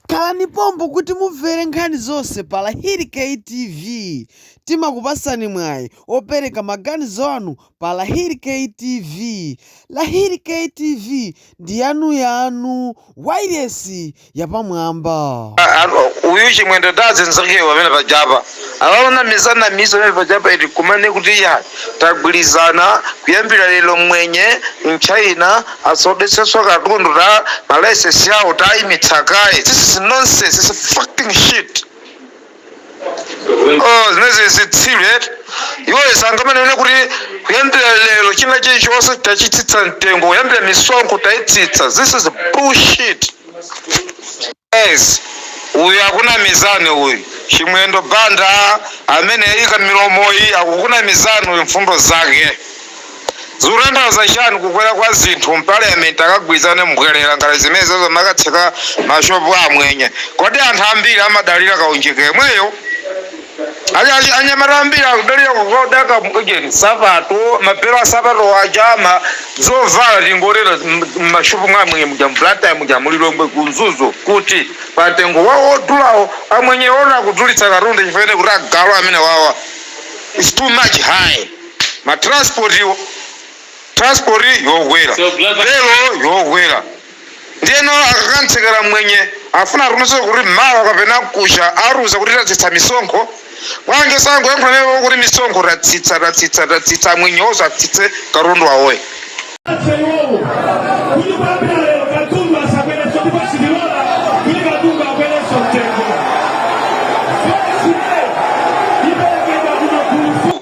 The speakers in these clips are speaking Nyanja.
Khalani pompo kuti mumvere nkhani zonse pa Lahiri K TV timakupasani mwayi opereka maganizo anu pa Lahiri K TV Lahiri K TV ndi yanu yanu wailesi yapamwamba. Uyu chimwendo ndi azinzakewo pamene pajapa. Awa onamiza namiza pamene paja apa eti kumanena kuti ya tagwirizana kuyambira lero mmwenye mchina asaodetsenso katundu ta ma license yawo taimitsa kaye this is nonsense this is fucking shit oh zimenezi zitsiru eti iwo sangamanene kuti kuyambira lero china chilichonse tachitsitsa mtengo kuyambira misonkho taitsitsa this is bullshit Guys uyu akunamizani uyu chimwendo banda amene waika milomoyi akukunamizani uyu mfundo zake zikutanthauza chani kukwera kwa zinthu mparliament akagwirizane mbwelera ngati zimenezozo mmakatseka mashop a amwenye kodi anthu ambiri amadalira kaunjika yemweyo? Anyamata ambiri akudalira kukaoda nsapato, mabelo a nsapato aja, zovala, tingotero, m'mashopu mwa Amwenye muja, mu Blantyre muja, mu Lilongwe, ku Mzuzu, kuti pantengo wawo wodulawo. Amwenye ena akudulitsa katundu chifukwa choti akuti agalu amenewawa is too much high. Matransportiwo, transport yokwera, belo yokwera. Ndiyeno akakamtsekera mmwenye, afuna atumize kuti mawa kapena mkuja atiuza kuti tatsitsa misonkho. Bwanji osangoyankhula naye iwowo kuti misonkho tatsitsa, tatsitsa, tatsitsa, amwenye onse atsitse katundu wawoyo. Atse iwowo kuti kuyambira lero katundu asakwerenso ndipo sitilola kuti katundu akwerenso mtengo. Voti iperekedwa ku magulu 4.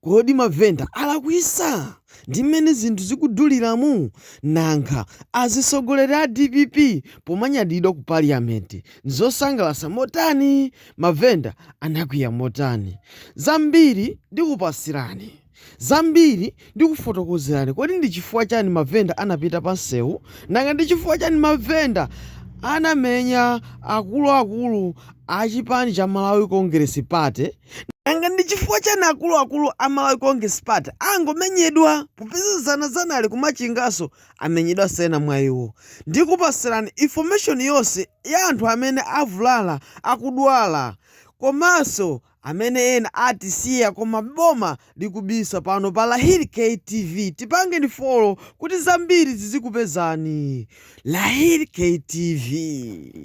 Kodi mavenda alakwisa ndi mmene zinthu zikuduliramu? Nanga azisogoleri a dpp pomenyedwa ku parliament nzosangalatsa motani? Mavenda anakwiya motani? Zambiri ndikupasirani zambiri ndikufotokozerani kodi ndi chifukwa chani mavenda anapita pa nsewu? Nanga ndi chifukwa chani mavenda anamenya akulu akulu a chipani cha Malawi Congress Party? nanga ndi chifukwa chani akuluakulu a malawi congress party angomenyedwa popeza zanazana ali ku Machinganso amenyedwanso ena mwa iwo ndikupasirani information yonse ya anthu amene avulala akudwala komanso amene ena atisiya koma boma likubisa pano pa lahiri ktv tipangeni follow kuti zambiri zizikupezani lahiri ktv